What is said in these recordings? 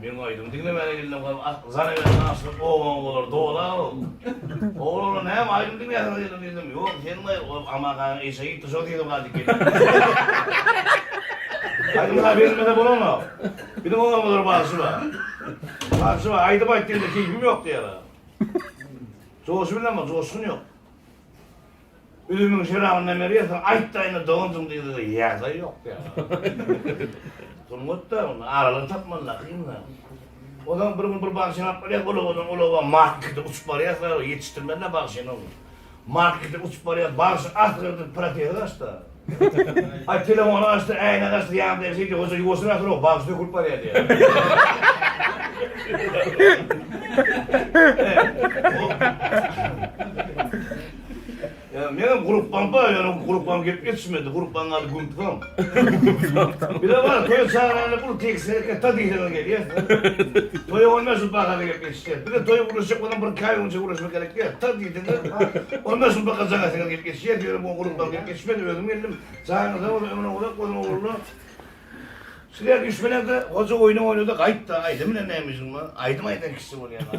Meň aýdym diňlemäne gelinem galyp arzan ebersin aşyk obaň bolar dola ol. Oglanlar näme aýdym diňläsiňiz geldim diýdim ýok sen gaýgy ol Amakanyň işe gitdi şol diýdim gaýdyp geldim. Aýdym ha berilmese bolanok. Biziň obaňyzlar bagşy bar. Bagşy bar aýdym aýt diýende keýpim ýok diýýärler. Joşy bilen bar joşgun ýok. Ölümiň şerabyndan berýärsiň, aýtdaýyna dogansyň diýdi-de, ýadaý ýok ýaly. Sungat-da, onda aralygy tapman-da kyn-da. Ozan bir gün bir bagsy ýanap barýar, ol owadan ol oba markete uçup barýar, ýetişdirmän-de bagşyny ol. Markete uçup barýar, bagşy asyr edip protest aç-da. Ay telefony açdy äýnegi açdy ýanynda ýaşy diýdi hoja ýuwaşyna ýatyrok bagşy dökülip barýa diýýä. Ya menem gurupbaň bar ýöne gurupbaň gelip ýetişmedi gurupbaň ady gumpusom. Bile bar toýa çagyranda pul teksine ketda diýseňiz gelýär. Toýa onda şu bagada gelip Ýeri, bize toýa guruşjak bolan bir käýüňje guruşmak gerek däl. Tar diýseňiz, onda şul bakaja gaýtadan gelip geçýär, ýöne muňa gurukmagy gelip geçmez, özüm geldim. Jaňyňyz sag bolsun, ömrüňiz uzak bolsun, ogurlar. Sizler düşmänizde, goja oýna oýnada gaýt-da, aýdym bilen näme işiň bar? Aýdym aýdan kişi bolýan-a.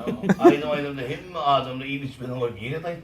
Aýdym aýdanda hemme adamda iýmit-içmeden goýup ýigit aýt.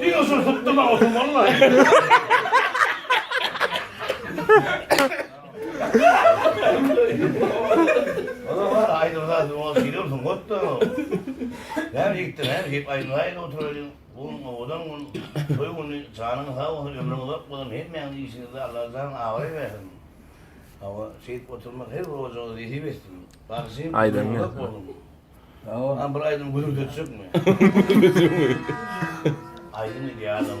Diňe şuny sypdyma otuň wallahi. Ola bar aýdyr zat ol giriyorsun got da. Näme gitdi näme gip aýdyr aýdyr oturaýyn. Bu owadan gün toý güni janyň sag bolsun ömrüň uzak bolsun hemmäňiz işiňizde Allah jan abraý bersin. Hawa şeýdip oturmak her bir ojaga nesip etsin. Bagşym ömrüň uzak bolsun. Aman bir aýdym gülüp geçjekmi? Aýdym idealym.